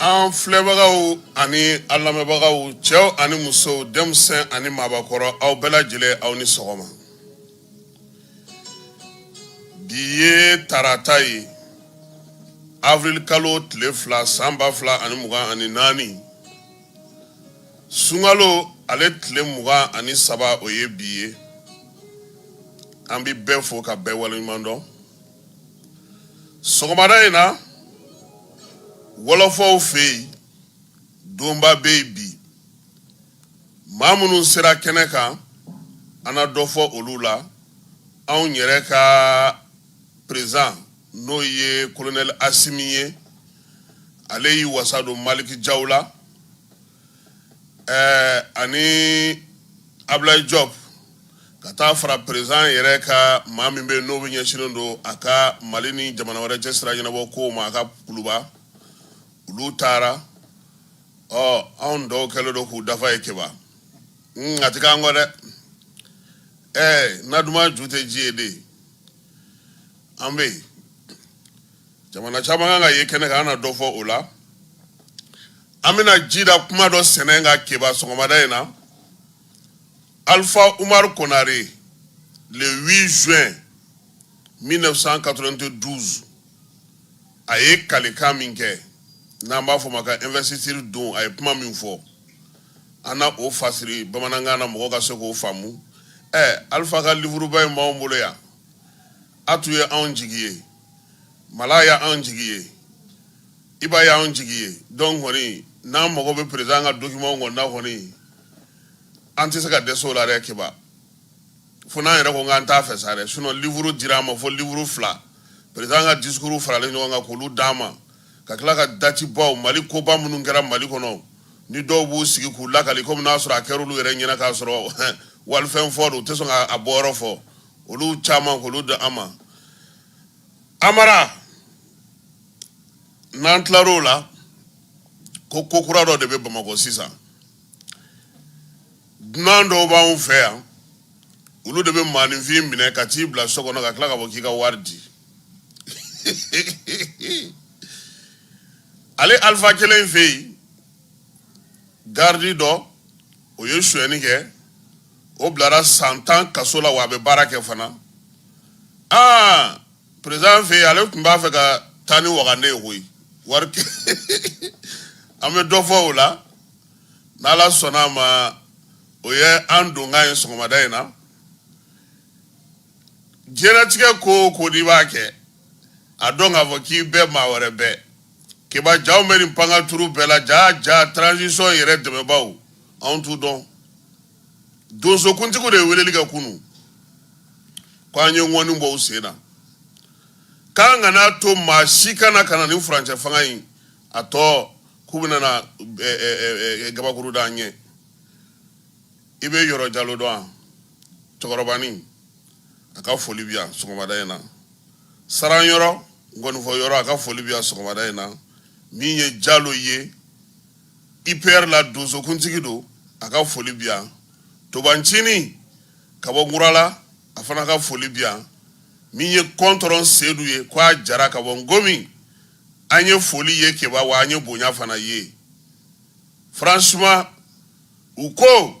An filɛbagaw ani an lamɛnbagaw cɛw ani musow denmisɛnw ani maabakɔrɔ aw bɛɛ lajɛlen aw ni sɔgɔma bi ye tarata ye avril kalo tile fila san ba fila ani mugan ani naani sunkalo ale tile mugan ani saba o ye bi ye an bɛ bɛɛ fo ka bɛɛ waleɲuman dɔn sɔgɔmada in na wɔlɔfɔw fɛ yen donba bɛ yen bi maa minnu sera kɛnɛ kan an na dɔ fɔ olu la anw yɛrɛ ka perezan n'o ye kolonɛli asimi ye ale y'i wasa don maliki jaw la ɛɛ ani ablayi jɔp ka taa fara perezan yɛrɛ ka maa min bɛ n'o bɛ ɲɛsinnen don a ka mali ni jamana wɛrɛ cɛ sira ɲɛnabɔ ko ma a ka kuluba olu taara ɔ anw dɔw kɛlen don k'u dafa ye keba a ti k'an kɔ dɛ ɛɛ na duman ju tɛ ji ye dɛ an bɛ yen jamana caman kan ka ye kɛnɛ kan an na dɔ fɔ o la an bɛna ji da kuma dɔ sɛnɛ ka keba sɔgɔmada in na alpha umar konare le 8 juin 1992 a ye kalikan min kɛ n'an b'a fɔ ma ka investiture don a ye kuma min fɔ an na o fasiri bamanankan na mɔgɔ ka se k'o faamu ɛɛ alpha ka livuruba in b'anw bolo yan a tun ye anw jigi ye Mala y'an jigi ye iba y'an jigi ye donc kɔni n'an mago bɛ perezan ka dokimanw kɔni na kɔni an tɛ se ka dɛsɛ o la dɛ keba fo n'an yɛrɛ ko k'an t'a fɛ sa dɛ sinon livuru dira an ma fo livuru fila perezan ka disikuru faralen ɲɔgɔn kan k'olu d'an ma ka tila ka dati baw mali koba minnu kɛra mali kɔnɔ ni dɔw b'u sigi k'u lakali komi n'a sɔrɔ a kɛra olu yɛrɛ ɲɛna k'a sɔrɔ walifɛn fɔ don u tɛ sɔn k'a bɔyɔrɔ fɔ olu caman k'olu di an ma amara n'an tilar'o la ko ko kura dɔ de bɛ bamakɔ sisan dunan dɔw b'anw fɛ yan olu de bɛ maaninfin minɛ ka t'i bila so kɔnɔ ka tila ka fɔ k'i ka wari di ale alifa kelen fɛ yen garidi dɔ o ye sonyɛni kɛ o bilara san tan kaso la wa a bɛ baara kɛ fana aa président fɛ yen ale tun b'a fɛ ka taa ni wagande ye koyi wari an bɛ dɔ fɔ o la n'ala sɔnna a ma o ye an donkan ye sɔgɔmada in na diɲɛlatigɛ ko o ko n'i b'a kɛ a dɔn k'a fɔ k'i bɛ maa wɛrɛ bɛɛ keba jaw bɛ nin pancarte bɛɛ la ja ja transition yɛrɛ dɛmɛbaaw anw t'u dɔn donsokuntigiw de ye weleli kɛ kunu ko an ye ŋɔni bɔ u sen na k'an kana to maa si kana ka na ni furancɛ fanga in a tɔ k'u bɛna na gabakuru d'an ɲɛ i bɛ yɔrɔ jalo dɔn a cɛkɔrɔbanin a ka foli bi yan sɔgɔmada in na saran yɔrɔ nkɔnifɔ yɔrɔ a ka foli bi yan sɔgɔmada in na min ye jalo ye ipr la donsokuntigi don a ka foli bi yan tobancinin ka bɔ nkurala a fana ka foli bi yan min ye kɔntɔrɔn sedu ye k'a jara ka bɔ ngomi an ye foli ye keba wa an ye bonya fana ye franchement u ko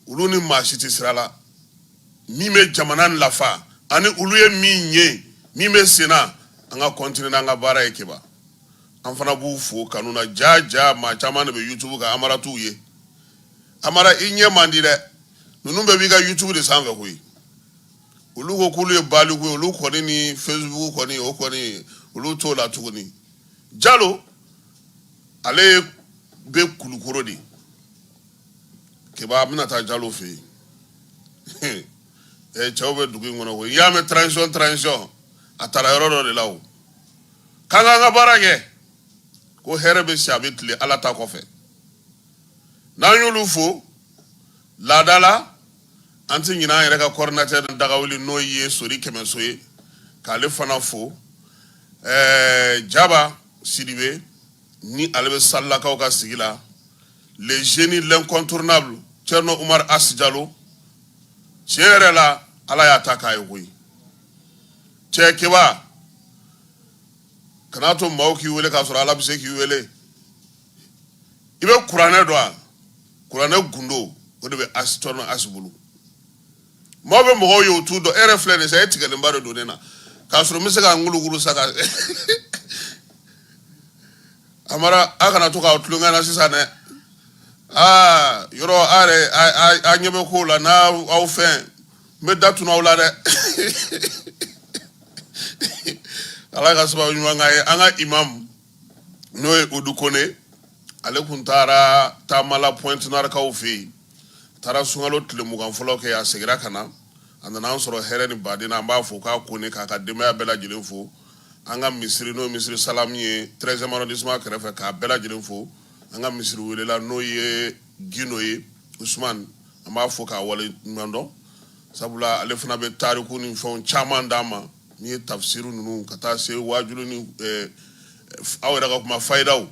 olu ni maa si tɛ sira la min bɛ jamana lafa ani olu ye min ye min bɛ senna an ka continuer n'an ka baara ye keba an fana b'u fo kanu na ja ja maa caman de bɛ yutubu kan amara t'u ye amara i ɲɛ man di dɛ ninnu bɛɛ b'i ka yutubu de sanfɛ koyi olu ko k'olu ye baliku ye olu kɔni ni facebook kɔni o kɔni olu t'o la tuguni jalo ale bɛ kulukoro de keba bɛna taa jalo fɛ yen cɛw bɛ dugu in kɔnɔ koyi i y'a mɛn transition transition a taara yɔrɔ dɔ de la o k'an k'an ka baara kɛ ko hɛrɛ bɛ si a bɛ tile ala ta kɔfɛ n'an y'olu fo laada la an tɛ ɲinɛ an yɛrɛ ka coordinateur dagawuli n'o ye sori kɛmɛso ye k'ale fana fo ɛɛ jaba sidibe ni ale bɛ salilakaw ka sigi la le génie l'incontournable Thierno Umar As Jalo tiɲɛ yɛrɛ la ala y'a ta k'a ye koyi cɛ keba kana to maaw k'i wele k'a sɔrɔ ala bɛ se k'i wele i bɛ kuranɛ dɔn a kuranɛ gundo o de bɛ As Thierno As bolo maaw bɛ mɔgɔw ye u t'u dɔn e yɛrɛ filɛ nin sa e tigɛlenba de don ne na k'a sɔrɔ n bɛ se ka n kulukuru sa ka a mara a kana to k'aw tulonkɛ na sisan dɛ aa yɔrɔ a yɛrɛ a ɲɛ bɛ kow la n'a aw fɛn n bɛ da tun'aw la dɛ ala ka sababu ɲuman k'a ye an ka imamu n'o ye odu kone ale tun taara taamala Pointe-Noire kaw fɛ yen taara sunkalo tile mugan fɔlɔ kɛ a segira ka na a nana an sɔrɔ hɛrɛ ni badenya an b'a fo k'a kone k'a ka denbaya bɛɛ lajɛlen fo an ka misiri n'o misiri salamu ye treizième arrondissement kɛrɛfɛ k'a bɛɛ lajɛlen fo an ka misiri welela n'o ye gino ye usman an b'a fo k'a waleɲumandɔn sabula ale fana bɛ tariku ni fɛnw caman d'an ma n'i ye tafsiri ninnu ka taa se waajulu ni eh, aw yɛrɛ ka kuma fayidaw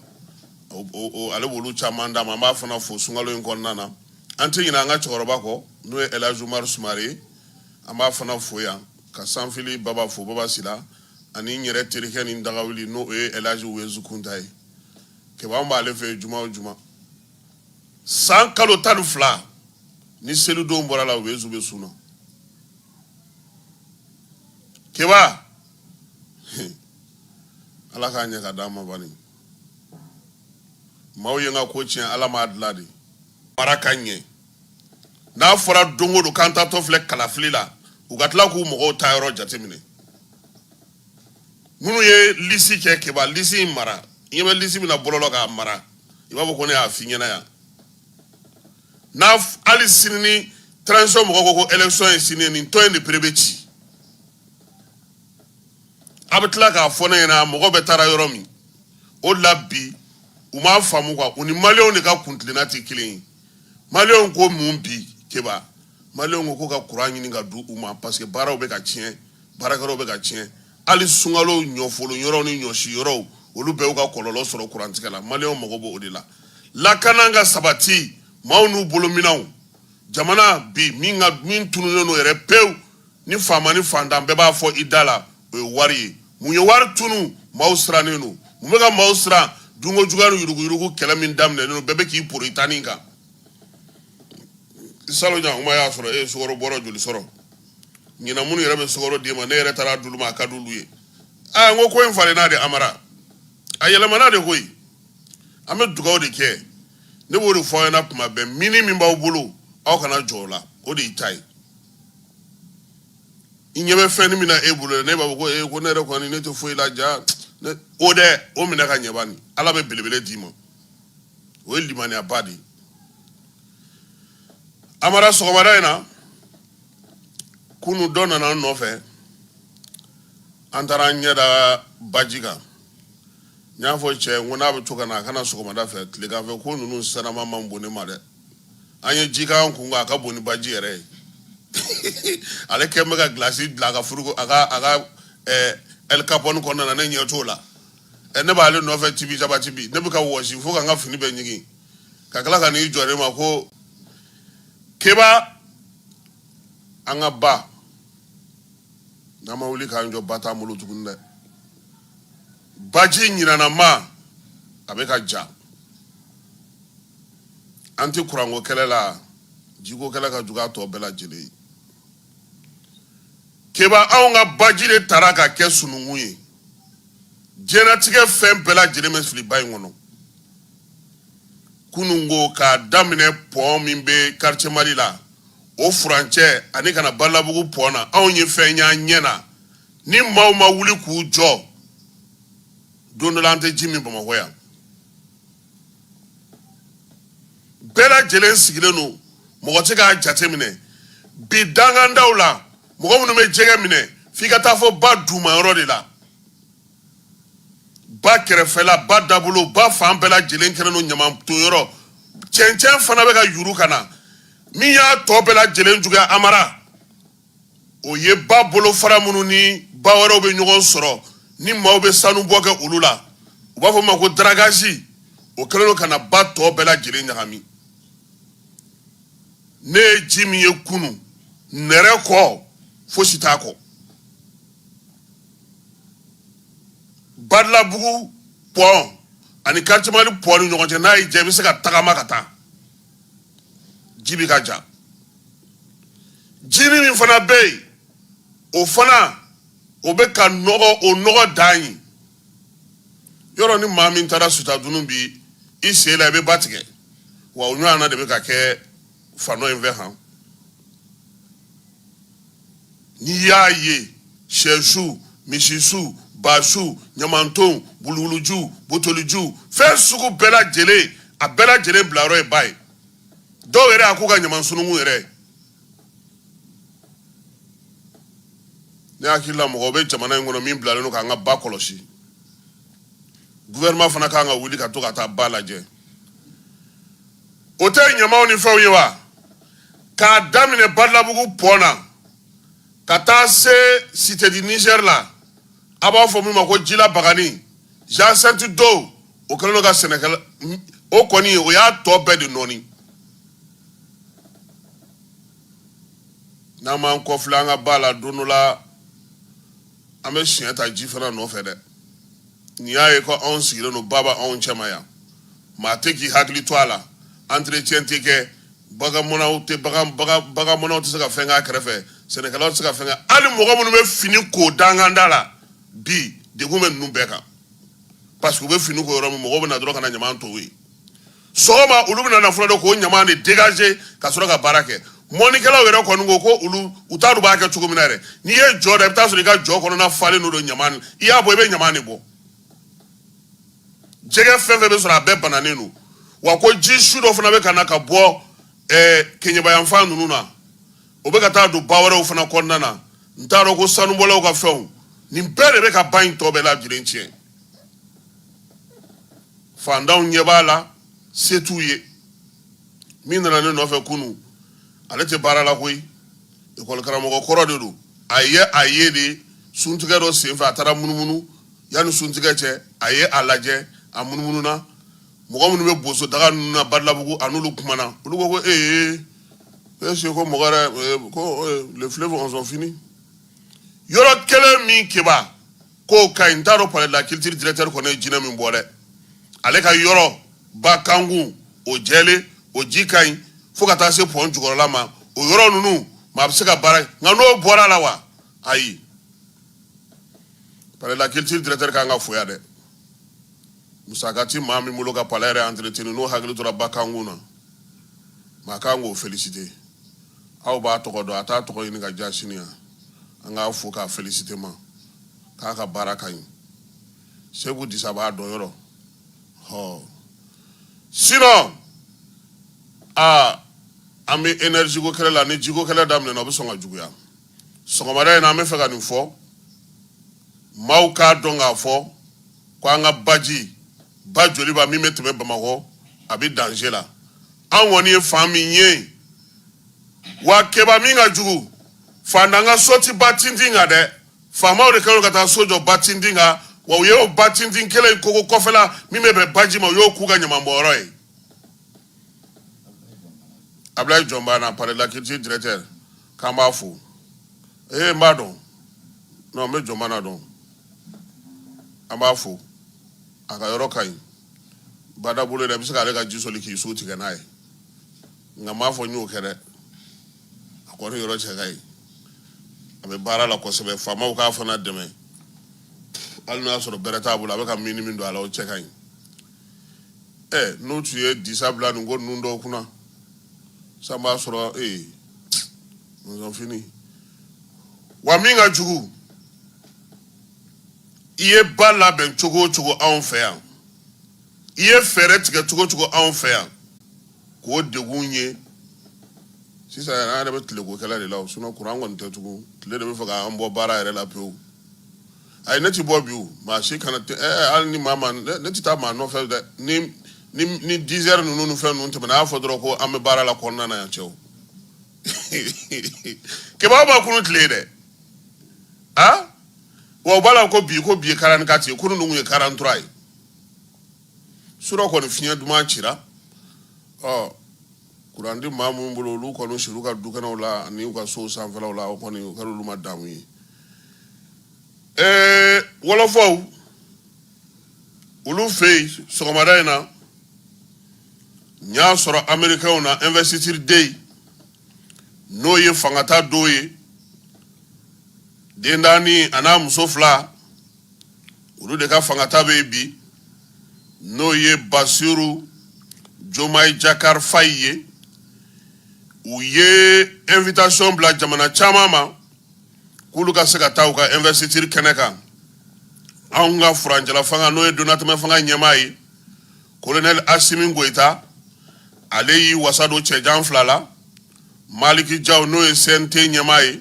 ale b'olu caman d'an ma an b'a fana fo sunkalo in kɔnɔna na an tɛ ɲinɛ an ka cɛkɔrɔba kɔ n'o ye elhaji umaru sumare ye an b'a fana fo yan ka sanfili baba fo baba sila ani n yɛrɛ terikɛ ni dagawuli n'o ye elhaji uwezu kunta ye keba n b'ale fɛ juma o juma san kalo tan ni fila ni selidon bɔr'a la uwezu bɛ sun na keba ala k'a ɲɛ k'a d'an ma bani maaw ye n ka ko tiɲɛ ala m'a dilan dɛ mara ka ɲɛ n'a fɔra don o don k'an taatɔ filɛ kalafili la u ka tila k'u mɔgɔw taayɔrɔ jateminɛ minnu ye lisi kɛ keba lisi in mara i ɲɛ bɛ lisi min na bɔlɔlɔ k'a mara i b'a fɔ ko ne y'a f'i ɲɛna yan n'a hali sini ni transition mɔgɔ ko ko élection ye sini ye nin tɔn in de pere bɛ ci a bɛ tila k'a fɔ ne ɲɛna mɔgɔ bɛɛ taara yɔrɔ min o de la bi u m'a faamu quoi u ni maliyɛnw de ka kuntilenna tɛ kelen ye maliyɛnw ko mun bi keba maliyɛnw ko ka kuran ɲini k'a di u ma parce que baaraw bɛ ka tiɲɛ baarakɛlaw bɛ ka tiɲɛ hali sunkalo ɲɔfolo yɔrɔ ni ɲɔsi yɔrɔ olu bɛ ka kɔlɔlɔ sɔrɔ kurantigɛ la maliyɛnw mago b'o de la lakana ka sabati maaw n'u bolominɛnw jamana bi min tununlen n'o yɛrɛ pewu ni faama ni fantan bɛɛ b'a fɔ i da la o ye wari ye mun ye wari tunun maaw sirannen don mun bɛ ka maaw siran dunko jugu yuruguyurugu kɛlɛ min daminɛna bɛɛ bɛ k'i poron i tanin kan salon yan kuma y'a sɔrɔ e ye sukaro bɔrɛ joli sɔrɔ ɲinan minnu yɛrɛ bɛ sukaro d'i ma n'e yɛrɛ taara d'olu ma a ka d'olu ye aa n ko ko in falenna dɛ amara a yɛlɛmana de koyi an bɛ dugaw de kɛ ne b'o de fɔ aw ɲɛna tuma bɛɛ minɛn min b'aw bolo aw kana jɔn o la o de y'i ta ye i ɲɛ bɛ fɛnnin min na e bolo ne b'a fɔ ko ee ko ne yɛrɛ kɔni ne tɛ foyi la ja o dɛ o minɛ ka ɲɛ bani ala bɛ belebele d'i ma o ye limaniyaba de ye amara sɔgɔmada in na kunu dɔ nana an nɔfɛ an taara an ɲɛ da baji kan n y'a fɔ cɛ n ko n'a bɛ to ka na a ka na sɔgɔmada fɛ tilegan fɛ ko ninnu sanama man bon ne ma dɛ an ye jikan kun a ka bon ni baji yɛrɛ ye ale kɛ bɛ ka gilasi dilan a ka frigo a ka a ka ɛɛ ɛlikapɔni kɔnɔna na ne ɲɛ t'o la ɛ ne b'ale nɔfɛ tibi jaba tibi ne bɛ ka wɔsi fo ka n ka fini bɛɛ ɲigin ka tila ka n'i jɔ ne ma ko keba an ka ba n'an ma wuli k'an jɔ ba t'an bolo tuguni dɛ baji ɲinana ma a bɛ ka ja an tɛ kuranko kɛlɛ la jiko kɛlɛ ka jugu a tɔ bɛɛ lajɛlen ye keba anw ka baji de tara ka kɛ sununkun ye jɛnatigɛ fɛn bɛɛ lajɛlen bɛ fili ba in kɔnɔ kunun ko k'a daminɛ pɔn min bɛ quartier mali la o furancɛ ani ka na badalabugu pɔn na anw ye fɛn y'an ɲɛ na ni maaw ma wuli k'u jɔ don dɔ la an tɛ ji min bamakɔ yan bɛɛ lajɛlen sigilen don mɔgɔ tɛ k'a jateminɛ bi dangandaw la mɔgɔ minnu bɛ jɛgɛ minɛ f'i ka taa fo ba dunman yɔrɔ de la ba kɛrɛfɛla ba dabolo ba fan bɛɛ lajɛlen kɛlen don ɲamanton yɔrɔ cɛncɛn fana bɛ ka yuru ka na min y'a tɔ bɛɛ lajɛlen juguya amara o ye ba bolofara minnu ni ba wɛrɛw bɛ ɲɔgɔn sɔrɔ ni maaw bɛ sanubɔ kɛ olu la u b'a fɔ ma ko dragage o kɛlen don ka na ba tɔ bɛɛ lajɛlen ɲagami ne ye ji min ye kunu n yɛrɛ ko fosi t'a kɔ badalabugu pɔn ani quartier mali pɔn ni ɲɔgɔn cɛ n'a y'i jɛ i bɛ se ka tagama ka taa ji bi ka ja jinin min fana bɛ yen o fana o bɛ ka nɔgɔ o nɔgɔ dan ye yɔrɔ ni maa min taara sutadunun bi i sen la i bɛ ba tigɛ wa o ɲɔgɔn na de bɛ ka kɛ fanɔ in fɛ han n'i y'a ye sɛsu misisu basu ɲamantonw buluguluju botoliju fɛn sugu bɛɛ lajɛlen a bɛɛ lajɛlen bilayɔrɔ ye ba ye dɔw yɛrɛ a k'u ka ɲaman sununkun yɛrɛ ne hakili la mɔgɔ bɛ jamana in kɔnɔ min bilalen don k'an ka ba kɔlɔsi gouvernement fana kan ka wuli ka to ka taa ba lajɛ o tɛ ɲamaw ni fɛnw ye wa k'a daminɛ badalabugu pɔn na ka taa se cité du niger la a b'a fɔ min ma ko jila bagani jacinthe d'eau o kɛlen ka sɛnɛkɛla o kɔni o y'a tɔ bɛɛ de nɔɔni n'an m'an kɔfilɛ an ka ba la don dɔ la an bɛ siɲɛ ta ji fana nɔfɛ dɛ n'i y'a ye ko anw sigilen don ba b'anw cɛma yan maa tɛ k'i hakili to a la entretien tɛ kɛ bagan mɔnaw tɛ bagan bagan bagan mɔnaw tɛ se ka fɛn k'a kɛrɛfɛ sɛnɛkɛlaw tɛ se ka fɛn kɛ hali mɔgɔ minnu bɛ fini ko danganda la bi degun bɛ ninnu bɛɛ kan parce que u bɛ fini ko yɔrɔ min mɔgɔw bɛ na dɔrɔn ka na ɲaman to yen sɔgɔma olu bɛna na fɔlɔ de k'o ɲaman de dégager ka sɔrɔ ka baara kɛ mɔnikɛlaw yɛrɛ kɔni ko ko olu u t'a dɔn u b'a kɛ cogo min na yɛrɛ n'i ye jɔ da i bɛ taa sɔrɔ i ka jɔ kɔnɔna falen don ɲaman i y'a bɔ i bɛ ɲaman de bɔ jɛgɛ fɛn fɛn bɛ sɔrɔ a bɛɛ bananen don wa ko ji sugu dɔ fana bɛ ka na ka bɔ ɛɛ eh, keɲɛba yanfan ninnu na o bɛ ka taa don ba wɛrɛw fana kɔnɔna na n t'a dɔn ko sanubɔlaw ka fɛnw nin bɛɛ de bɛ ka ba in tɔ bɛɛ lajɛlen tiɲɛ fantanw ɲɛ b'a la se t'u ye min nana ne nɔfɛ kunun ale tɛ baara la koyi ekɔli karamɔgɔ kɔrɔ de don a ye a yɛrɛ de suntigɛ dɔ senfɛ a taara munumunu yanni suntigɛ cɛ a ye a lajɛ a munumununa mɔgɔ minnu bɛ boso daga ninnu na badalabugu a n'olu kumana olu ko ko est-ce que ko mɔgɔ yɛrɛ ko les fleuves sont finis yɔrɔ kelen min keba k'o ka ɲi n t'a dɔn palais de la culture directeur kɔni ye jinɛ min bɔ dɛ ale ka yɔrɔ ba kankun o jɛlen o ji ka ɲi fo ka taa se pɔn jukɔrɔla ma o yɔrɔ ninnu maa bɛ se ka baara nka n'o bɔra la wa ayi palais de la culture directeur ka kan ka fo yan dɛ musaka ti maa min bolo ka palais yɛrɛ entretenu n'o hakili tora ba kankun na maa kan k'o féliciter aw b'a tɔgɔ dɔn a t'a tɔgɔ ɲini ka ja sini yan an k'a fo k'a féliciter ma k'a ka baara ka ɲi seku disa b'a dɔn yɔrɔ hɔ sinon a an bɛ énergie ko kɛlɛ la ni jiko kɛlɛ daminɛna o bɛ sɔn ka juguya sɔgɔmada in na an bɛ fɛ ka nin fɔ maaw k'a dɔn k'a fɔ ko an ka baji ba joliba min bɛ tɛmɛ bamakɔ a bɛ danger la an kɔni ye fan min ye wa keba min ka jugu fantan ka so tɛ ba tintin kan dɛ faamaw de kɛlen ka taa so jɔ ba tintin kan wa u y'o ba tintin kelen in kogo kɔfɛla min bɛ bɛn baji ma u y'o k'u ka ɲamanbɔnyɔrɔ ye abulayi jɔnbana palais de la culture directeur k'an b'a fo ee n b'a dɔn non n bɛ jɔnmana dɔn an b'a fo a ka yɔrɔ ka ɲi badabolo yɛrɛ i bɛ se k'ale ka ji soli k'i sun tigɛ n'a ye nka n m'a fɔ n y'o kɛ dɛ a kɔni yɔrɔ cɛ ka ɲi a bɛ baara la kosɛbɛ faamaw k'a fana dɛmɛ hali n'a y'a sɔrɔ bɛrɛ t'a bolo a bɛ ka min ni min don a la o cɛ ka ɲi ɛ n'o tun ye disa bila nin ko ninnu dɔw kunna san b'a sɔrɔ ee mɔnzɔnfini wa min ka jugu i ye ba labɛn cogo o cogo anw fɛ yan i ye fɛɛrɛ tigɛ cogo o cogo anw fɛ yan k'o degun ye sisan yɛrɛ an yɛrɛ bɛ tile ko kɛlɛ de la o sinɔn kuran kɔni tɛ tugun tile de b'a fɛ k'an bɔ baara yɛrɛ la pewu ayi ne tɛ bɔ bi o maa si kana tɛ ɛ ɛ, hali ni maa ma ne ne tɛ taa maa nɔfɛ dɛ ni ni ni dizɛri ninnu ni fɛn ninnu tɛmɛna a y'a fɔ dɔrɔn ko an bɛ baara la kɔnɔna na yan cɛw keba a ma kunu tile ye dɛ a wa u b'a la ko bi ko bi ye karanti kati ye kunu ninnu ye karanti turuwa ye surɔ kɔni fiɲɛ duman cira ɔ Kuran tɛ maa minnu bolo olu kɔni sir'u ka dukɛnɛw la ani u ka so sanfɛlaw la o kɔni o kɛra olu ma damu ye ɛɛ wɔlɔfɔw olu fɛ yen sɔgɔmada in na n y'a sɔrɔ amerikɛnw na investiture day n'o ye fangata don ye den naani ani a muso fila olu de ka fangata bɛ yen bi n'o ye basiru jomayi jakari fayi ye u ye invitason bila jamana caman ma k'olu ka se ka taa u ka ɛnvɛsitiri kɛnɛ kan anw ka furancɛla fanga n'o ye donatɛmɛ fanga ɲɛmaa ye kolonɛli asimi goyita ale y'i wasa don cɛjan fila la maliki jaw n'o ye CNT ɲɛmaa ye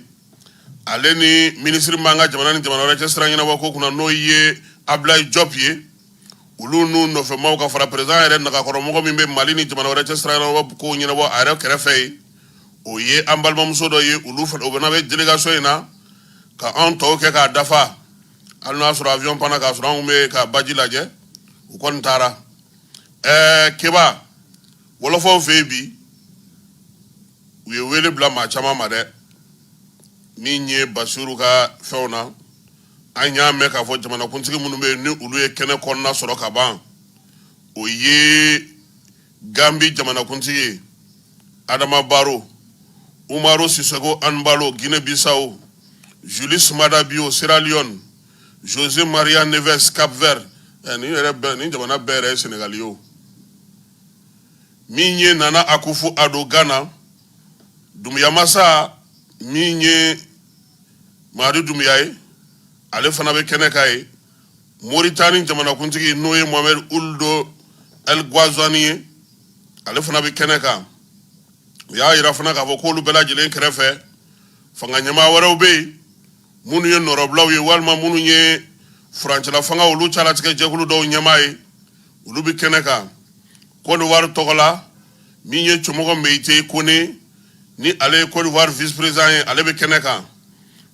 ale ni minisiri min b'an ka jamana ni jamana wɛrɛ cɛ sira ɲɛnabɔ ko kunna n'o ye Ablaye Diop ye olu n'u nɔfɛmaaw ka fara perezidan yɛrɛ nagakɔrɔmɔgɔ min bɛ mali ni jamana wɛrɛ cɛ sira ɲɛnabɔ kow ɲɛnabɔ a yɛrɛ kɛrɛfɛ ye o ye an balimamuso dɔ ye olu fana o fana bɛ delegation in na ka anw tɔw kɛ k'a dafa hali n'a sɔrɔ avion panna k'a sɔrɔ anw bɛ ka baji lajɛ u kɔni taara ɛɛ keba wɔlɔfɔw fɛ yen bi u ye wele bila maa caman ma dɛ min ye basiru ka fɛnw na an y'a mɛn k'a fɔ jamanakuntigi minnu bɛ yen ni olu ye kɛnɛ kɔnɔna sɔrɔ ka ban o ye ganbi jamanakuntigi ye adama baro umaru sisoko anbalo gine bisaw julius maada bio siraliyɔn jose maria neves cap vert eh, ni yɛrɛ bɛɛ ni jamana bɛɛ yɛrɛ ye senegali ye o min ye nana akufu ado gana dumuya masa min ye madi dumuya ye ale fana bɛ kɛnɛ kan yen moritani jamanakuntigi n'o ye mohamɛd uldo el guazani ye ale fana bɛ kɛnɛ kan u y'a yira fana k'a fɔ k'olu bɛɛ lajɛlen kɛrɛfɛ fanga ɲɛmaa wɛrɛw bɛ yen minnu ye nɔrɔbilaw ye walima minnu ye furancɛla fanga olu calatigɛ jɛkulu dɔw ɲɛmaa ye olu bɛ kɛnɛ kan kɔɔriwari tɔgɔ la min ye cɛmɔgɔ meyite kone ni ale ye kɔɔriwari visperezan ye ale bɛ kɛnɛ kan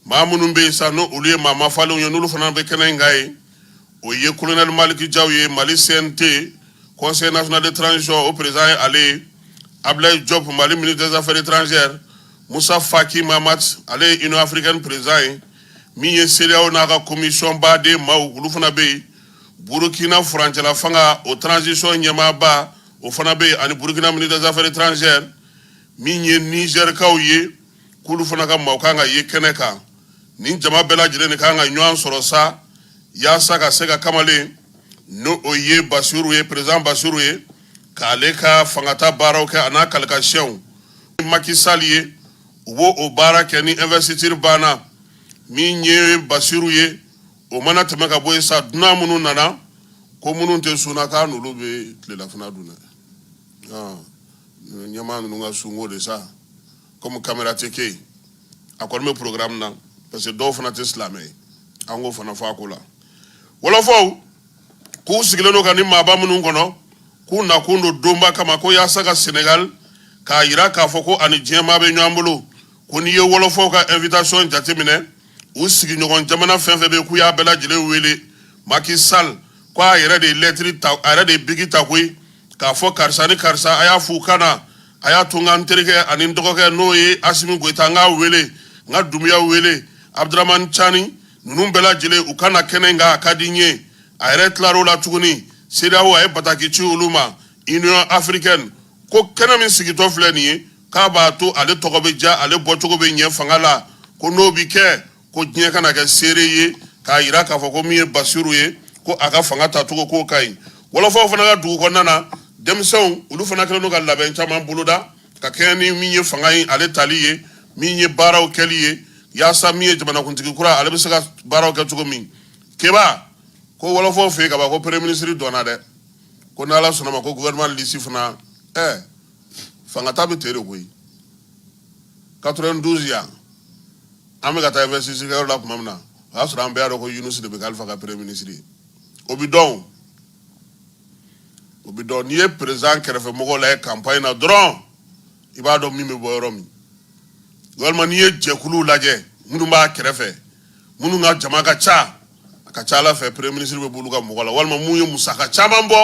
maa minnu bɛ yen sa n'o olu ye maa mafalenw ye n'olu fana bɛ kɛnɛ in kan yen o ye kolonɛli maliki jaw ye mali cnt conseil national de transition o perezan ye ale ye ablaye job mali ministre des affaires étrangères musa faki mamat ale ye union africaine perezan ye min ye CEDEAO n'a ka komisiyɔn baden maaw olu fana bɛ yen Burukina furancɛla fanga o transition ɲɛmaaba o fana bɛ yen ani Burukina ministre des affaires étrangères min ye Nizɛrikaw ye k'olu fana ka maaw kan ka ye kɛnɛ kan nin jama bɛɛ lajɛlen de kan ka ɲɔgɔn sɔrɔ sa yaasa ka se ka kamalen n'o o ye Basiru ye président Basiru ye k'ale ka fangata baaraw kɛ a n'a kalikasiyɛnw Macky Sall ye u b'o o baara kɛ ni investiture banna min ye Basiru ye o mana tɛmɛ ka bɔ yen sa dunan minnu nana ko minnu tɛ sun na k'a n'olu bɛ tilelafana dun dɛ ah, ɲɛmaa ninnu ka sunko de sa komi kamera tɛ kɛ yen a kɔni bɛ programme na parce que dɔw fana tɛ silamɛ ye an k'o fana fɔ a ko la wɔlɔfɔw k'u sigilen don ka nin maaba minnu kɔnɔ k'u nakun don donba kama ko yaasa ka senegal k'a yira k'a fɔ ko a ni diɲɛmaa bɛ ɲɔgɔn bolo ko n'i ye wɔlɔfɔw ka invitation jateminɛ u sigiɲɔgɔn jamana fɛn fɛn bɛ k'u y'a bɛɛ lajɛlen wele Macky Sall ko a yɛrɛ de ye lɛtiri ta a yɛrɛ de ye biki ta koyi k'a fɔ karisa ni karisa a y'a f'u ka na a y'a to n ka n terikɛ ani n dɔgɔkɛ n'o ye Asimi Goyita n k'a wele n ka Dumuya wele Abudramani Cani ninnu bɛɛ lajɛlen u ka na kɛnɛ in kan a ka di n ye a yɛrɛ tilar'o la tuguni CEDEAO a ye bataki ci olu ma Union africaine ko kɛnɛ min sigitɔ filɛ nin ye k'a b'a to ale tɔgɔ bɛ diya ale bɔcogo bɛ ɲɛ fanga la ko n'o bɛ kɛ ko diɲɛ ka na kɛ seere ye k'a yira k'a fɔ ko min ye basiru ye ko a ka fanga tacogo k'o ka ɲi wɔlɔfɔw fana ka dugu kɔnɔna na denmisɛnw olu fana kɛlen don ka labɛn caman boloda ka kɛɲɛ ni min ye fanga in ale tali ye min ye baaraw kɛli ye yaasa min ye jamanakuntigi kura ale bɛ se ka baaraw kɛ cogo min keba ko wɔlɔfɔw fɛ yen ka ban ko premier ministre dɔnna dɛ ko n'ala sɔnn'a ma ko gouvernement lisi fana ɛɛ fangata bɛ tere koyi quatre-vingt-douze yan an bɛ ka taa investiture la tuma min na o y'a sɔrɔ an bɛɛ dɔn ko yunusi de bɛ kɛ alifa ka premier ministre o bɛ dɔn o bɛ dɔn n'i ye perezan kɛrɛfɛ mɔgɔw lajɛ kanpaɲi na dɔrɔn i b'a dɔn min bɛ bɔ yɔrɔ min walima n'i ye jɛkuluw lajɛ minnu b'a kɛrɛfɛ minnu ka jama ka ca a ka ca a la fɛ premier ministre bɛ bɔ olu ka mɔgɔ la walima minnu ye musaka caman bɔ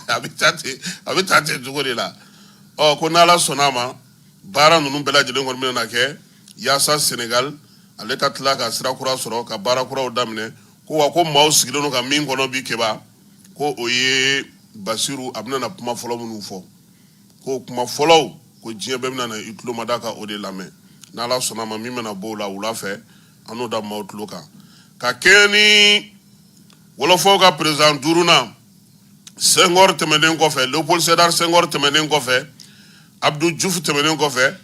a bɛ taa ten a bɛ taa ten cogo de la ɔ ko n'ala sɔnna a ma baara ninnu bɛɛ lajɛlen kɔni bɛna kɛ yaasa senegali ale ka tila ka sira kura sɔrɔ ka baara kuraw daminɛ ko wa ko maaw sigilen don ka min kɔnɔ bi keba ko o ye basiru a bɛna na kuma fɔlɔ minnu fɔ ko kuma fɔlɔw ko diɲɛ bɛɛ bɛna na i tulo mada ka o de lamɛn n'ala sɔnna a ma min bɛna bɔ o la wula fɛ an n'o da maaw tulo kan ka kɛɲɛ ni wɔlɔfɔw ka perezan duurunan senghor tɛmɛnen kɔfɛ leopold sedar senghor tɛmɛnen kɔfɛ abdu jufu tɛmɛnen kɔfɛ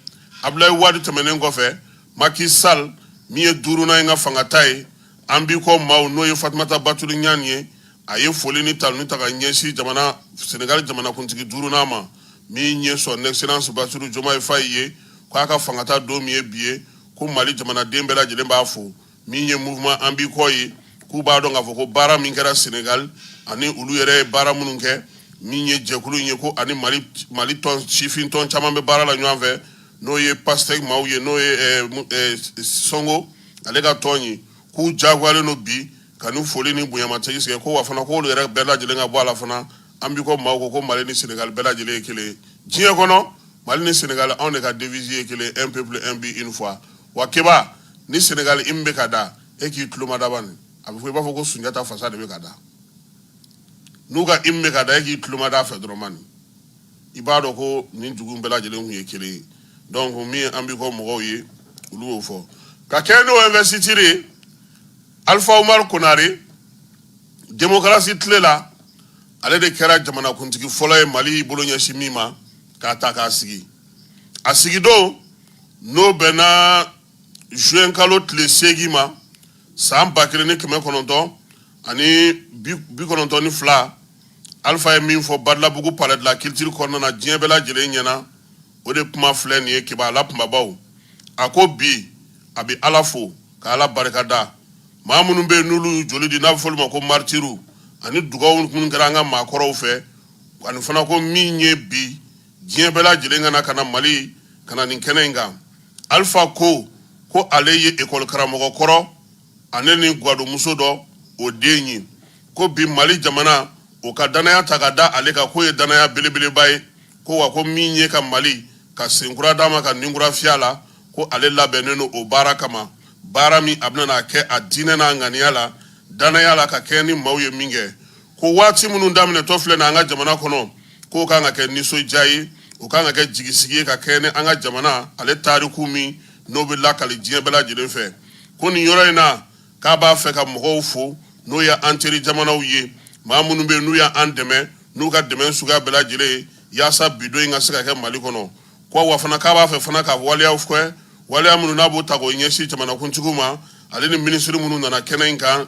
abdulayi wadu tɛmɛnen kɔfɛ maki sal min ye duurunan in ka fangata ye an b'i kɔ maaw n'o ye fatumata batuli ɲan ye a ye foli ni taloni ta ka ɲɛsin jamana senegali jamanakuntigi duurunan ma min ye son excellence basiru jomaye fayi ye k'a ka fangata don min ye bi ye ko mali jamanaden bɛɛ lajɛlen b'a fo min ye mouvement an b'i kɔ ye k'u b'a dɔn k'a fɔ ko baara min kɛra Senegal ani olu yɛrɛ ye baara minnu kɛ min ye jɛkulu in ye ko ani Mali Mali tɔn sifin tɔn caman bɛ baara la ɲɔgɔn fɛ n'o ye Pastef maaw ye n'o ye eh, eh, Sonko ale ka tɔn ye k'u jagoyalen don bi ka ni foli ni bonyamatigi sigi ko wa fana k'olu yɛrɛ bɛɛ lajɛlen ka bɔ a la fana an b'i kɔ maaw ko ko Mali ni Senegal bɛɛ lajɛlen ye kelen ye diɲɛ kɔnɔ Mali ni Senegal anw de ka devise ye kelen un peuple un but une foi wa keba ni senegali hymne bɛ ka da e k'i tulo mada bani a bɛ fɔ i b'a fɔ ko sunjata fasa de bɛ ka da n'u ka hymne bɛ ka da e k'i tulo mada a fɛ dɔrɔn mani i b'a dɔn ko nin dugu bɛɛ lajɛlen tun ye kelen ye donc min an b'i kɔ mɔgɔw ye olu y'o fɔ ka kɛɲɛ n'o investiture ye alpha umar konare démocratie tile la ale de kɛra jamanakuntigi fɔlɔ ye mali bolo ɲɛsin min ma k'a ta k'a sigi a sigidon n'o bɛnna juin kalo tile seegin ma san ba kelen ni kɛmɛ kɔnɔntɔn ani bi kɔnɔntɔn ni fila alifa ye min fɔ badalabugu palais de la culture kɔnɔna na diɲɛ bɛɛ lajɛlen ɲɛna o de kuma filɛ nin ye keba a la kunbabaw a ko bi a bɛ ala fo ka ala barika da maa minnu bɛ yen n'olu joli di n'a bɛ fɔ olu ma ko maritiuru ani dugawu minnu kɛra an ka maakɔrɔw fɛ ani fana ko min ye bi diɲɛ bɛɛ lajɛlen ka na ka na mali ka na nin kɛnɛ in kan alifa ko ko ale ye ekɔli karamɔgɔ kɔrɔ ani ni gwadonmuso dɔ o den ye ko bi mali jamana o ka dannaya ta ka da ale kan k'o ye dannaya belebeleba ye ko wa ko min ye ka mali ka senkura d'a ma ka ninkura fiy'a la ko ale labɛnnen don o baara kama baara min a bɛna a kɛ a diinɛ n'a ŋaniya la dannaya la ka kɛɲɛ ni maaw ye min kɛ ko waati minnu daminɛtɔ filɛ na an ka jamana kɔnɔ k'o ka kan ka kɛ nisɔndiya ye o ka kan ka kɛ jigisigi ye ka kɛɲɛ ni an ka jamana ale tariku min n'o bɛ lakali diɲɛ bɛɛ lajɛlen fɛ ko nin yɔrɔ in na k'a b'a fɛ ka mɔgɔw fo n'o ye an teri jamanaw ye maa minnu bɛ n'u y'an dɛmɛ n'u ka dɛmɛ suguya bɛɛ lajɛlen ye yaasa bi don in ka se ka kɛ mali kɔnɔ ko wa fana k'a b'a fɛ fana ka waleyaw kɛ waleya minnu n'a b'o ta k'o ɲɛsin jamanakuntigiw ma ale ni minisiri minnu nana kɛnɛ in kan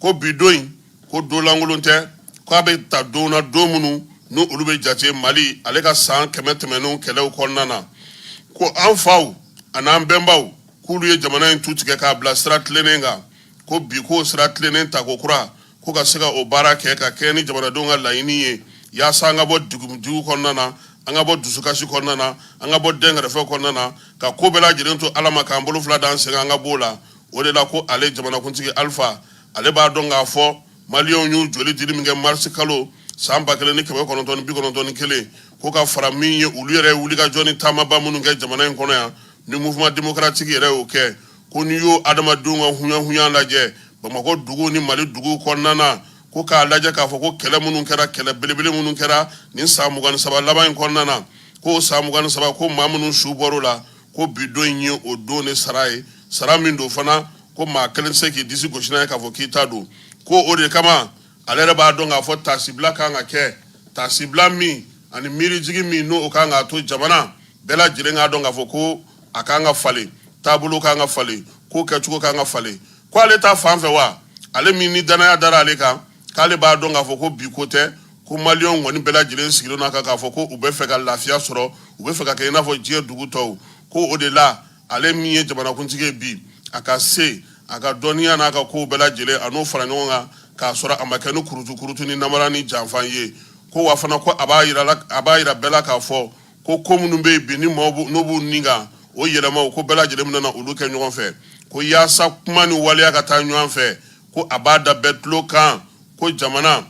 ko bi don in ko don lankolon tɛ k' a bɛ ta don na don minnu n' olu bɛ jate mali ale ka san kɛmɛ tɛmɛnen kɛlɛ kɔnɔna na ko an faw an'an bɛnbaw k'olu ye jamana in tu tigɛ k'a bila sira tilennen kan ko bi ko sira tilennen tako kura ko ka se ka o baara kɛ ka kɛɲɛ ni jamanadenw ka laɲini ye yaasa an ka bɔ degun kɔnɔna na an ka bɔ dusukasi kɔnɔna na an ka bɔ dɛnkɛrɛfɛ kɔnɔna na ka ko bɛɛ lajɛlen to ala ma k'an bolo fila da an sen kan an ka b'o la o de la ko ale jamanakuntigi alifa ale b'a dɔn k'a fɔ maliyɛnw y'u joli dili min kɛ marisi kalo san ba kelen ni kɛmɛ kɔnɔntɔn ni bi kɔnɔntɔn ni kelen ko ka fara min ye olu yɛrɛ wulikajɔ ni taamaba minnu kɛ jamana in kɔnɔ yan ni mouvement démocratique yɛrɛ y'o kɛ ko n'i y'o adamadenw ka hunyahunya lajɛ bamakɔ dugu ni mali dugu kɔnɔna na ko k'a lajɛ k'a fɔ ko kɛlɛ minnu kɛra kɛlɛ belebele minnu kɛra nin san mugan ni saba laban in kɔnɔna na ko san mugan ni saba ko maa minnu su bɔr'a la ko bi don in ye o don de sara ye sara min don fana ko maa kelen tɛ se k'i disi gosi n'a ye k'a fɔ k'i ta don ko o de kama ale yɛrɛ b'a dɔn k'a fɔ taasibila kan ka kɛ taasibila min ani miirijigi min n'o kan k'a to jamana bɛɛ lajɛlen k'a dɔn k'a fɔ ko a kan ka falen taabolo kan ka falen ko kɛcogo kan ka falen ko ale ta fan fɛ wa ale min ni dannaya dara ale kan k'ale b'a dɔn k'a fɔ ko bi ko tɛ ko maliyɛnw kɔni bɛɛ lajɛlen sigilen n'a kan k'a fɔ ko u bɛ fɛ ka lafiya sɔrɔ u bɛ fɛ ka kɛ i n'a fɔ diɲɛ dugu tɔw ko o de la ale min ye jamanakuntigi ye bi a ka se a ka dɔnniya n'a ka kow bɛɛ lajɛlen a n'o fara ɲɔgɔn kan k'a sɔrɔ a ma kɛ ni kurutu kurutu ni namara ni janfan ye ko wa fana ko a b'a yira la a b'a yira bɛɛ la k'a fɔ ko ko minnu bɛ yen bi ni maaw b'u- n'u b'u ni kan o yɛlɛmaw ko bɛɛ lajɛlen bɛna na olu kɛ ɲɔgɔn fɛ ko yaasa kuma ni waleya ka taa ɲɔgɔn fɛ ko a b'a da bɛɛ tulo kan ko jamana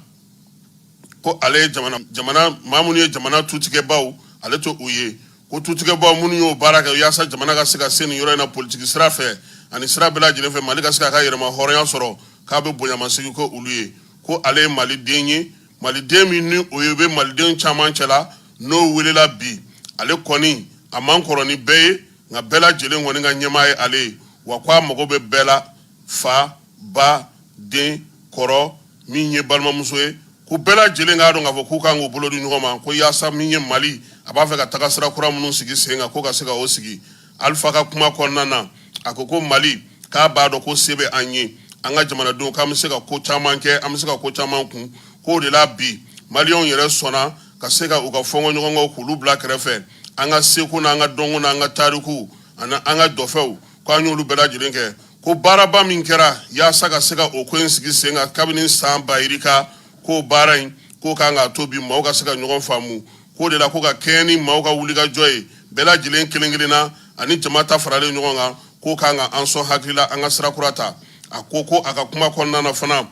ko ale ye jamana jamana maa minnu ye jamana tutigɛbaaw ale to u ye ko tutigɛbaaw minnu y'o baara kɛ yaasa jamana ka se ka se nin yɔrɔ in na politiki sira fɛ ani sira bɛɛ lajɛlen fɛ mali ka se k'a ka yɛrɛmahɔrɔnya sɔrɔ k'a bɛ bonyamasegin k'olu ye ko ale ye maliden ye maliden min ni o ye bɛ maliden caman cɛla n'o welela bi ale kɔni a man kɔrɔ ni bɛɛ ye nka bɛɛ lajɛlen kɔni ka ɲɛmaa ye ale ye wa ko a mago bɛ bɛɛ la fa ba den kɔrɔ min ye balimamuso ye ko bɛɛ lajɛlen k'a dɔn k'a fɔ k'u kan k'u bolo di ɲɔgɔn ma ko yaasa min ye mali a b'a fɛ ka taga sira kura minnu sigi sen kan ko ka se ka o sigi alifa ka kuma kɔnɔna na a ko ko mali k'a b'a dɔn ko se bɛ an ye an ka jamanadenw k'an bɛ se ka ko caman kɛ an bɛ se ka ko caman kun k'o de la bi maliyɛnw yɛrɛ sɔnna ka se ka u ka fɔɲɔgɔnkɔw k'olu bila kɛrɛfɛ an ka seko n'an ka dɔnko n'an ka tariku ani an ka dɔfɔw K' an y'olu bɛɛ lajɛlen kɛ ko baaraba min kɛra yaasa ka se ka o ko in sigi sen kan kabini san ba yirika k'o baara in k'o kan k'a to bi maaw ka se ka ɲɔgɔn faamu k'o de la ko ka kɛɲɛ ni maaw ka wulikajɔ ye bɛɛ lajɛlen kelen- kelenna ani jama ta faralen ɲɔgɔn kan k'o kan ka an sɔn hakili la an ka sira kura ta a ko ko a ka kuma kɔnɔna fana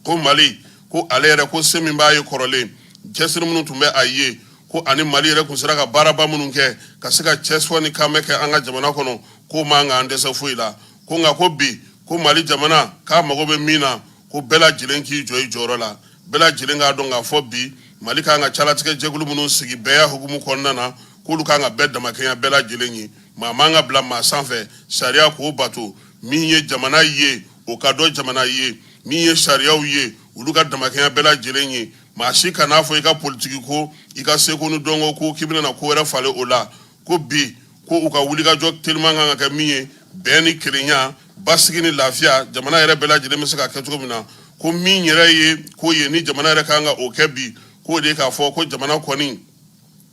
ko mali ko ale yɛrɛ ko se min b'a ye kɔrɔlen cɛsiri minnu tun bɛ a ye ko ani mali yɛrɛ tun sera ka baaraba minnu kɛ ka se ka cɛsɔ ni kanbɛn kɛ an ka jamana kɔnɔ k'o man kan an dɛsɛ foyi la ko nka ko bi ko mali jamana k'a mago bɛ min na ko bɛɛ lajɛlen k'i jɔ i jɔyɔrɔ la bɛɛ lajɛlen k'a dɔn k'a fɔ bi mali kan ka calatigɛ jɛkulu minnu sigi bɛɛya hukumu kɔnɔna na k'olu kan ka bɛɛ damakɛɲɛ bɛɛ lajɛlen ye maa man ka bila maa sanfɛ sariya k'o bato min ye jamana ye o ka dɔn jamana ye min ye sariyaw ye olu ka damakɛɲɛ bɛɛ lajɛlen ye maa si kan'a fɔ i ka politiki ko i ka seko ni dɔnko ko k'i bɛna ko wɛrɛ falen o la ko bi ko u ka wulikajɔ teliman kan ka kɛ min ye bɛn ni kelenya basigi ni lafiya jamana yɛrɛ bɛɛ lajɛlen bɛ se ka kɛ cogo min na ko min yɛrɛ ye ko ye ni jamana yɛrɛ kan ka o kɛ bi k'o de k'a fɔ ko jamana kɔni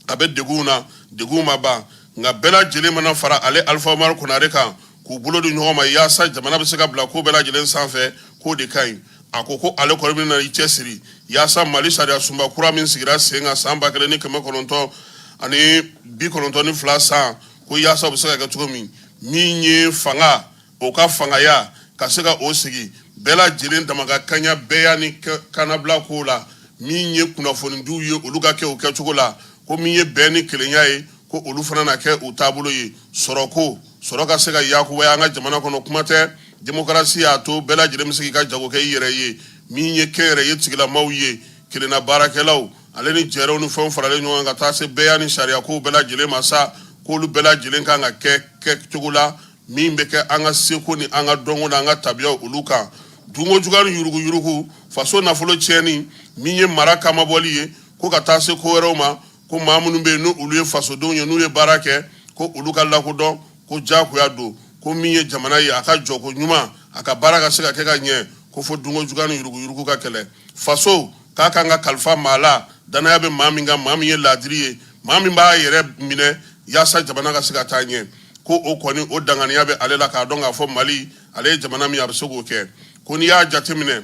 a bɛ degun na degun ma ban nka bɛɛ lajɛlen mana fara ale alifa umaru konare kan k'u bolo di ɲɔgɔn ma yaasa jamana bɛ se ka bila ko bɛɛ lajɛlen sanfɛ k'o de ka ɲi a ko ko ale kɔni bɛna i cɛsiri yaasa mali sariyasunba kura min sigira sen kan san ba kelen ni kɛmɛ kɔnɔntɔn ani bi kɔnɔntɔn ni fila san ko yaasa o bɛ se ka kɛ cogo min min ye fanga o ka fangaya ka se ka o sigi bɛɛ lajɛlen dama ka kaɲa bɛɛya ni kanabila ko la min ye kunnafonidiw ye olu ka kɛ u kɛcogo la ko min ye bɛn ni kelenya ye ko olu fana na kɛ u taabolo ye sɔrɔko sɔrɔ ka se ka yakubaya an ka jamana kɔnɔ kuma tɛ demokarasi y'a to bɛɛ lajɛlen bɛ se k'i ka jago kɛ i yɛrɛ ye min ye kɛnyɛrɛye tigilamaw ye kelenna baarakɛlaw ale ni jɛrɛw ni fɛnw faralen ɲɔgɔn kan ka taa se bɛɛya ni sariyakow bɛɛ lajɛlen ma sa k'olu bɛɛ lajɛlen kan ka kɛ kɛcogo la min bɛ kɛ an ka seko ni an ka dɔnko an ka tabiyaw olu kan dunko jugu ni yuruguyurugu faso nafolo tiɲɛni min ye mara kama bɔli ye ko ka taa se ko wɛrɛw ma ko maa minnu bɛ yen n' olu ye fasodenw ye n'u ye baara kɛ ko olu ka lakodɔn ko jagoya don ko min ye jamana ye a ka jɔko ɲuman a ka baara ka se ka kɛ ka ɲɛ ko fo dunko jugu ni yuruguyurugu ka kɛlɛ faso k'a ka kan ka kalifa maa la dannaya bɛ maa min kan maa min ye laadiri ye maa min b'a yɛrɛ minɛ yaasa jamana ka se ka taa ɲɛ ko o kɔni o danganiya bɛ ale la k'a dɔn k'a fɔ mali ale ye jamana min a bɛ se k'o kɛ ko n'i y'a jateminɛ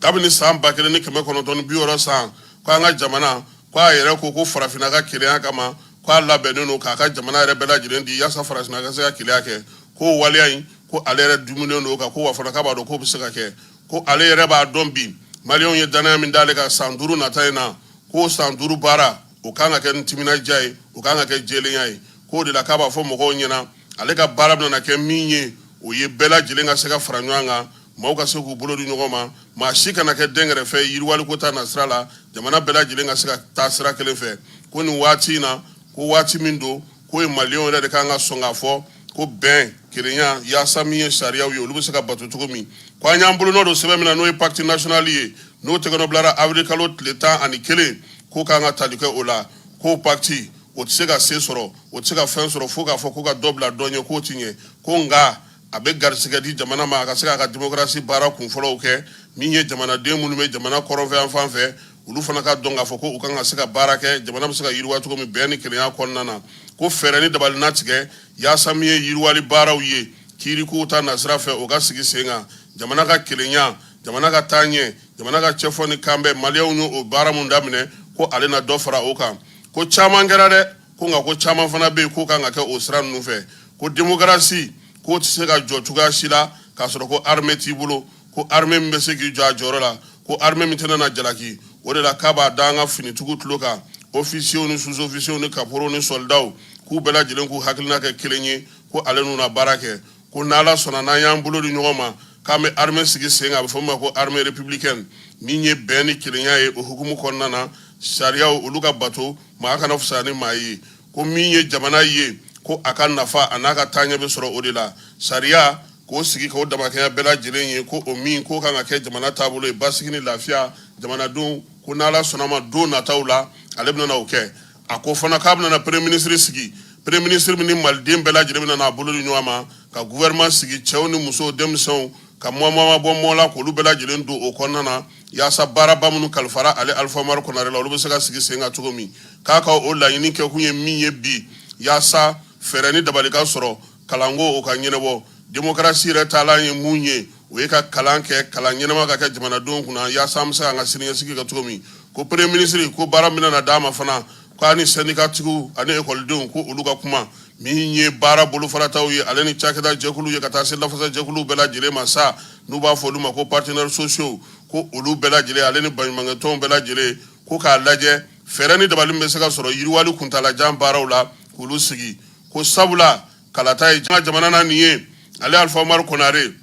kabini san ba kelen ni kɛmɛ kɔnɔntɔn bi wɔɔrɔ san ko an ka jamana ko a yɛrɛ ko ko farafinna ka kelenya kama ko a labɛnnen don k'a ka jamana yɛrɛ bɛɛ lajɛlen di yaasa farafinna ka se ka kelenya kɛ k'o waleya in ko ale yɛrɛ dumunen don ka ko wa fana k'a b'a dɔn k'o bɛ se ka kɛ ko ale yɛrɛ b'a dɔn bi maliyɛnw ye dannaya min d'ale kan san duuru nata in na k'o san duuru baara o ka kan ka kɛ timinandiya ye o ka kan ka kɛ jɛlenya ye k'o de la k'a b'a fɔ mɔgɔw ɲɛna ale ka baara bɛna kɛ min ye o ye bɛɛ lajɛlen ka se ka fara ɲɔgɔn kan maaw ka se k'u bolo di ɲɔgɔn ma maa si kana kɛ dɛnkɛrɛfɛ yiriwaliko ta nasira la jamana bɛɛ lajɛlen ka se ka taa sira kelen fɛ ko nin waati in na ko waati min don Ko ye maliyɛnw yɛrɛ de kan ka sɔn k'a fɔ ko bɛn kelenya yaasa min ye sariyaw ye olu bɛ se ka bato cogo min k' an y'an bolonɔ don sɛbɛn min na n'o ye pacte national ye n'o tɛgɛnɔ bilara awirili kalo tile tan ani kelen k'o kan ka tali kɛ o la k'o pacte o tɛ se ka sen sɔrɔ o tɛ se ka fɛn sɔrɔ fo k'a fɔ k'u ka dɔ bila dɔ ɲɛ k'o tɛ ɲɛ ko nka a bɛ garisɛgɛ di jamana ma a ka se k'a ka dimokarasi baara kunfɔlɔw kɛ min ye jamanaden minnu bɛ jamana kɔrɔnfɛ yan fan fɛ olu fana k'a dɔn k'a fɔ ko u kan ka se ka baara kɛ jamana bɛ se ka yiriwa cogo min bɛn ni kelenya kɔnɔna na ko fɛɛrɛ ni dabali na tigɛ yaasa min ye yiriwali baaraw ye kiirikow ta nasira fɛ o ka sigi sen kan jamana ka kelenya jamana ka taa ɲɛ jamana ka cɛfɔ ni kanbɛn maliyɛnw y'o baara mun daminɛ ko ale na dɔ fara o kan ko caman kɛra dɛ ko nka ko caman fana bɛ yen k'o kan ka kɛ o sira ninnu fɛ ko demokarasi k'o tɛ se ka jɔ cogoya si la k'a sɔrɔ ko armée t'i bolo ko armée min bɛ se k'i jɔ a jɔyɔrɔ la ko armée min tɛna na jalaki o de la k'a b'a da an ka finitigiw tulo kan ofisiyew ni sous-ofisiyew ni kaporow ni sɔlidaw k'u bɛɛ lajɛlen k'u hakilina kɛ kelen ye ko ale n'u na baara kɛ ko n'ala sɔnna n'an y'an bolo di ɲɔgɔn ma k'an bɛ armée sigi sen kan a bɛ fɔ min ma ko armée républicaine min ye bɛn ni kelenya ye o hukumu kɔnɔna na sariyaw olu ka bato maa kana fisaya ni maa ye ko min ye jamana ye ko a ka nafa a n'a ka taa ɲɛ bɛ sɔrɔ o de la sariya k'o sigi k'o damakɛnya bɛɛ lajɛlen ye ko o min k'o kan ka kɛ jamana taabolo ye basigi ni lafiya jamanadenw ko n'ala sɔnn'a ma don nataw la ale bɛna o kɛ a ko fana k'a bɛna premier ministre sigi premier ministre min ni maliden bɛɛ lajɛlen bɛna n'a bolo di ɲɔgɔn ma ka gouvernement sigi cɛw ni musow denmisɛnw ka mɔɔ ma bɔ mɔɔ la k'olu bɛɛ lajɛlen don o kɔnɔna na yaasa baara ba minnu kalifara ale alifa umaru konare la olu bɛ se ka sigi sen kan cogo min k'a ka o laɲini kɛkun ye min ye bi yaasa fɛɛrɛ ni dabali ka sɔrɔ kalanko o ka ɲɛnabɔ demokarasi yɛrɛ taalan ye mun ye o ye ka kalan kɛ kalan ɲɛnama ka kɛ jamanadenw kunna yaasa an bɛ se ka an ka siniɲɛsigi kɛ cogo min ko premier ministre ko baara min na d'a ma fana k'a ni sɛndikatigiw ani ekɔlidenw ko olu ka kuma min ye baara bolofarataw ye ale ni cakɛda jɛkulu ye ka taa se lafasa jɛkuluw bɛɛ lajɛlen ma sa n'u b'a fɔ olu ma ko partenaires sociaux ko olu bɛɛ lajɛlen ale ni baɲumankɛtɔnw bɛɛ lajɛlen ko k'a lajɛ fɛɛrɛ ni dabali min bɛ se ka sɔrɔ yiriwali kuntaalajan baaraw la k'olu sigi ko sabula kalata ye janga jamana na nin ye ale alifa umaru konare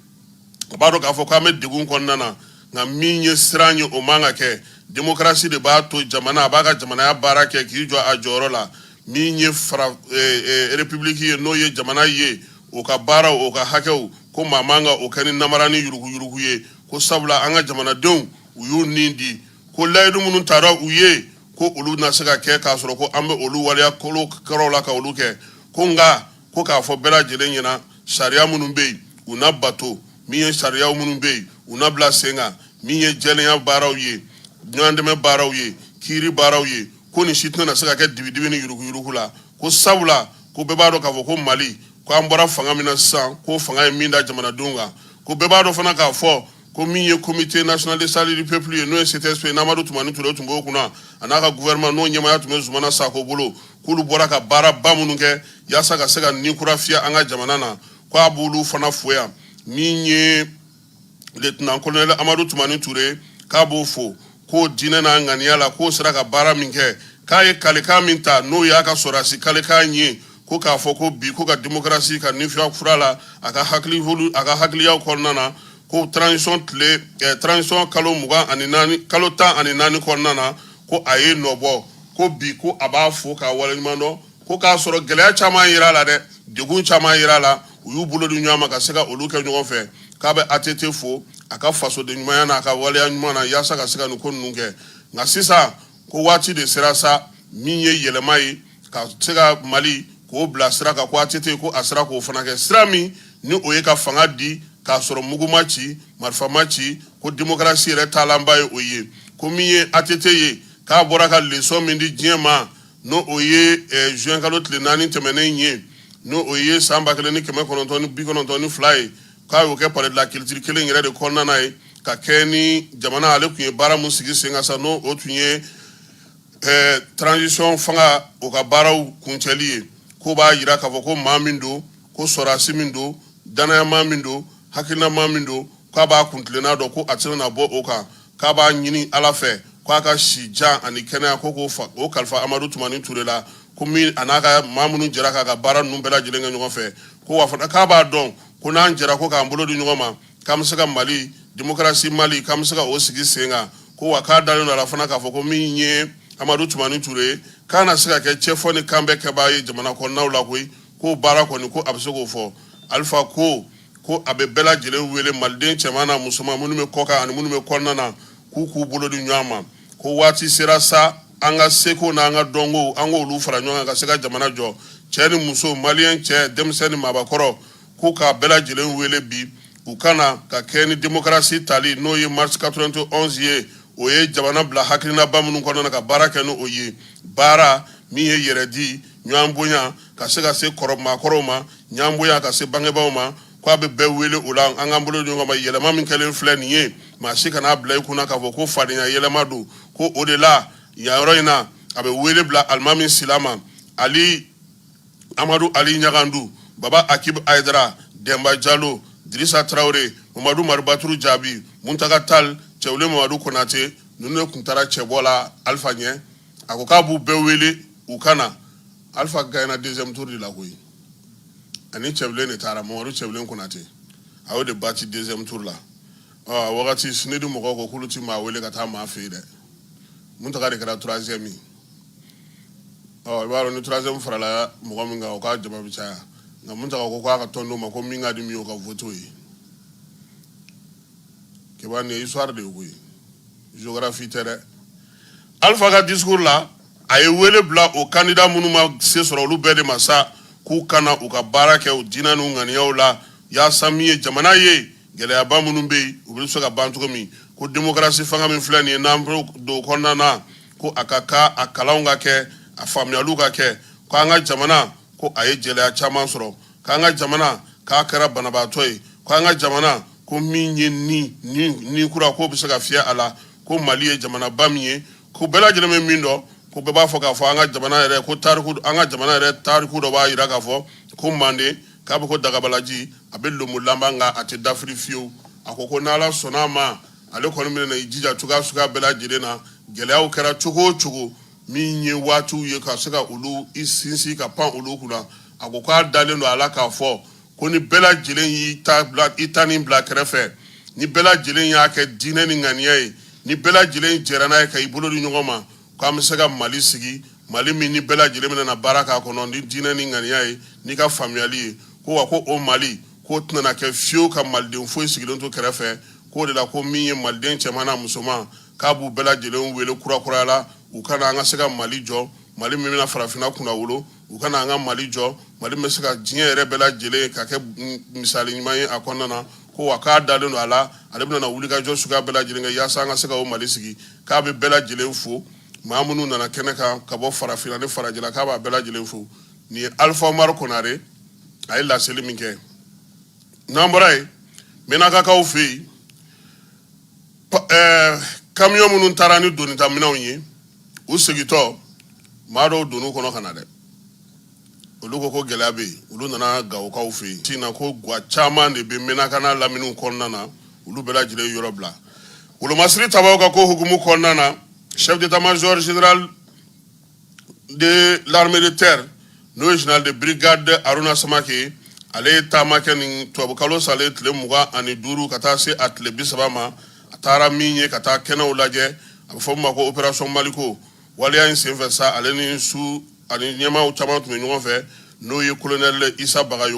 a b'a dɔn k'a fɔ k'an bɛ degun kɔnɔna na nka min ye siran ye o man ka kɛ demokarasi de b'a to jamana a b'a ka jamanaya baara kɛ k'i jɔ a jɔyɔrɔ la min ye repibuliki ye n'o ye jamana ye o ka baara o ka hakɛw ko maa man ka o kɛ ni namara ni yuruguyurugu ye ko sabula an ka jamanadenw u y'u nin di ko layidu minnu taara u ye ko olu na se ka kɛ k'a sɔrɔ ko an bɛ olu waleya kolo kɛrɛw la ka olu kɛ ko nka ko k'a fɔ bɛɛ lajɛlen ɲɛna sariya minnu bɛ yen u na bato min ye sariya minnu bɛ yen u na bila sen kan min ye jɛlenya baaraw ye ɲɔgɔndɛmɛ baaraw ye kiiri baaraw ye ko nin si tɛna na se ka kɛ dibidibi ni yuruguyurugu la ko sabula ko bɛɛ b'a dɔn k'a fɔ ko Mali ko an bɔra fanga min na sisan ko fanga ye min da jamanadenw kan ko bɛɛ b'a dɔn fana k'a fɔ ko min ye comité national de salut du peuple ye n'o ye CTSP n'Amadu Tumani Ture tun b'o kunna a n'a ka gouvernement n'o ɲɛmaya tun bɛ Zumana Sako bolo k'olu bɔra ka baara ba minnu kɛ yaasa ka se ka ni kura fiyɛ an ka jamana na ko a b'olu fana fo yan min ye lieutenant colonel Amadu Tumani Ture k'a b'o fo k'o diinɛ n'a ŋaniya la k'o sera ka baara min kɛ k'a ye kalikan min ta n'o y'a ka sɔrɔdasi kalikan ye ko k'a fɔ ko bi ko ka demokarasi ka nifiya fura la a ka hakiliyaw kɔnɔna na ko transition kalo tan ni naani kɔnɔna na ko a ye nɔbɔ ko bi ko a b'a fo k'a waleɲumandɔn Ko k'a sɔrɔ gɛlɛya caman yera a la dɛ degun caman yera a la u y'u bolo di ɲɔgɔn ma ka se ka olu kɛ ɲɔgɔn fɛ k'a bɛ ATT fo a ka fasodenɲumanya n'a ka waleya ɲuman na yaasa ka se ka nin ko ninnu kɛ nka sisan ko waati de sera sa min ye yɛlɛma ye ka se ka Mali k'o bila sira kan ko ATT ko a sera k'o fana kɛ sira min ni o ye ka fanga di k'a sɔrɔ mugu ma ci marifa ma ci ko demokarasi yɛrɛ taalanba ye o ye ko min ye ATT ye k'a bɔra ka leçon min di diɲɛ ma n'o o ye zuwɛn kalo tile naani tɛmɛnen ye n'o o ye san ba kelen ni kɛmɛ kɔnɔntɔn ni bi kɔnɔntɔn ni fila ye k'a y'o kɛ palais de la culture kelen yɛrɛ de kɔnɔna ye ka kɛ ni jamana ale tun ye baara min sigi sen kan sa n'o o tun ye transition fanga o ka baaraw kuncɛli ye ko b'a jira k'a fɔ ko maa min don ko sɔrɔdasi min don danayamaa min don hakilinamaa min don k'a b'a kuntilenna dɔn ko a tɛna bɔ o kan k'a b'a ɲini ala fɛ k'a ka si jan ani kɛnɛya ko k'o fa o kalifa amadu tumani ture la ko min a n'a ka maa minnu jɛra k'a ka baara ninnu bɛɛ lajɛlen kɛ ɲɔgɔn fɛ ko wa fana k'a b'a dɔn ko n'an jɛra ko k'an bolo di ɲɔgɔn ma k'an bɛ se ka mali demokarasi mali k'an bɛ se ka o sigi sen kan ko wa k'a dalen don a la fana k'a fɔ ko min ye amadu tumani ture ye k'a na se ka kɛ cɛfɔ ni kan bɛɛ kɛbaa ye jamana kɔnɔnaw la koyi k'o baara kɔni ko a bɛ se k'o fɔ alifa ko ko a bɛ bɛɛ lajɛlen wele maliden cɛman n'a musoman minnu bɛ kɔkan ani minnu bɛ kɔnɔna na k'u k'u bolo di ɲɔgɔn ma ko waati sera sa an ka seko n'an ka dɔnko an k'olu fara ɲɔgɔn kan ka se ka jamana jɔ cɛ ni muso maliyɛn cɛ denmisɛn ni maabakɔrɔ k'u k'a bɛɛ lajɛlen wele bi u ka na ka kɛ ni demokarasi tali n'o ye marisi 91 ye o ye jamana bila hakilinaba minnu kɔnɔna na ka baara kɛ n'o ye baara min ye yɛrɛdi ɲɔgɔn bonya ka se ka se kɔrɔ maakɔrɔw ma ɲɔgɔn bonya ka se bangebaaw ma ko a bɛ bɛɛ wele o la an k'an bolo di ɲɔgɔn ma yɛlɛma min kɛlen filɛ nin ye maa si kana bila i kunna k'a fɔ ko fadenya yɛlɛma don ko o de la yan yɔrɔ in na a bɛ wele bila alimami sila ma ali amadu ali ɲagandu baba akib ayidara dɛnba jalo dirisa tarawele mamadu maribaturu jaabi muntaka tal cɛwule mamadu konate ninnu de tun taara cɛbɔ la alifa ɲɛ a ko k'a b'u bɛɛ wele u ka na Alifa gana denmusotu de la koyi ani cɛ de taara mamadu cɛ kɔnɔnatɛ a y'o de ba ci denmuso la wagati sdi mɔgɔ ko kulu ci maa wele ka taa maa fɛ yen dɛ n taga de kɛra turanz min i b'a ni turanz farala mɔgɔ min o ka jama caya nka mun ko k'a ka tɔn' ma ko min ka di min o ka fɔtu ye ke i suwa de ye koyikarafi tɛ dɛ alifa ka di la a ye wele bila o kandida minnu ma se sɔrɔ olu bɛɛ de ma sa k'u ka na u ka baara kɛ u diinɛ n'u ŋaniyaw la yaasa min ye jamana ye gɛlɛyaba minnu bɛ yen u bɛ se ka ban cogo min ko demokarasi fanga min filɛ nin ye n'an bɛ don o kɔnɔna na ko a ka kan a kalanw ka kɛ a faamuyaliw ka kɛ ko an ka jamana ko a ye gɛlɛya caman sɔrɔ k'an ka jamana k'a kɛra banabaatɔ ye ko an ka jamana ko min ye ni ni ni kura k'o bɛ se ka fiyɛ a la ko mali ye jamanaba min ye Ko bɛɛ lajɛlen bɛ min dɔn ko bɛɛ b'a fɔ k'a fɔ an ka jamana yɛrɛ ko tariku an ka jamana yɛrɛ tariku dɔ b'a jira k'a fɔ ko manden k'a bɛ ko dagabalaji a bɛ lonbolanba nka a tɛ dafiri fiyewu a ko ko n'ala sɔnna a ma ale kɔni bɛna i jija cogoya suguya bɛɛ lajɛlen na gɛlɛyaw kɛra cogo o cogo min ye waatiw ye ka se ka olu i sinsin ka pan olu kunna a ko k'a dalen don a la k'a fɔ ko ni bɛɛ lajɛlen y'i ta nin bila kɛrɛfɛ ni bɛɛ lajɛlen y'a kɛ diinɛ ni ŋaniya ye ni bɛɛ lajɛlen jɛra n'a ye ka i bolo di ɲɔgɔn ma k'an bɛ se ka mali sigi mali min ni bɛɛ lajɛlen bɛna baara k'a kɔnɔ ni diinɛ ni ŋaniya ye n'i ka faamuyali ye ko wa ko o mali k'o tɛna kɛ fiyewu ka maliden foyi sigilen to kɛrɛfɛ k'o de la ko min ye maliden cɛman n'a musoman k'a b'u bɛɛ lajɛlen wele kurakuraya la u ka na an ka se ka mali jɔ mali min bɛna farafinna kunna wolo u ka na an ka mali jɔ mali min bɛ se ka diɲɛ yɛrɛ bɛɛ lajɛlen ka kɛ misali ɲuman ye a kɔnɔna na ko wa k'a dalen don a la ale bɛna wulikajɔ suguya bɛɛ lajɛlen kɛ yaasa an ka se ka o mali sigi k'a bɛ bɛɛ lajɛlen fo maa minnu nana kɛnɛ kan ka bɔ farafinna ni farajɛla k'a b'a bɛɛ lajɛlen fo nin ye alifa umaru konare a ye laseli min kɛ n'an bɔra yen mɛnakakaw fɛ yen eh, kamiyɔn minnu taara ni donitaminɛnw ye u segitɔ maa dɔw donn'u kɔnɔ ka na dɛ olu ko ko gɛlɛya bɛ yen olu nana gawokaw fɛ yen tin na ko gwa caman de bɛ mɛnaka n'a laminiw kɔnɔna na olu bɛɛ lajɛlen yɔrɔ bila wolomasiri tabaw ka ko hukumu kɔnɔna na chef d'état major général de l'armée de terre n'o ye général de brigade Aruna Samake ale ye taama kɛ nin tubabukalo salen tile mugan ani duuru ka taa se a tile bi saba ma a taara min ye ka taa kɛnɛw lajɛ a bɛ fɔ min ma ko opération maliko waleya in senfɛ sa ale ni su ani ɲɛmaaw caman tun bɛ ɲɔgɔn fɛ n'o ye colonel Isa Bagayogo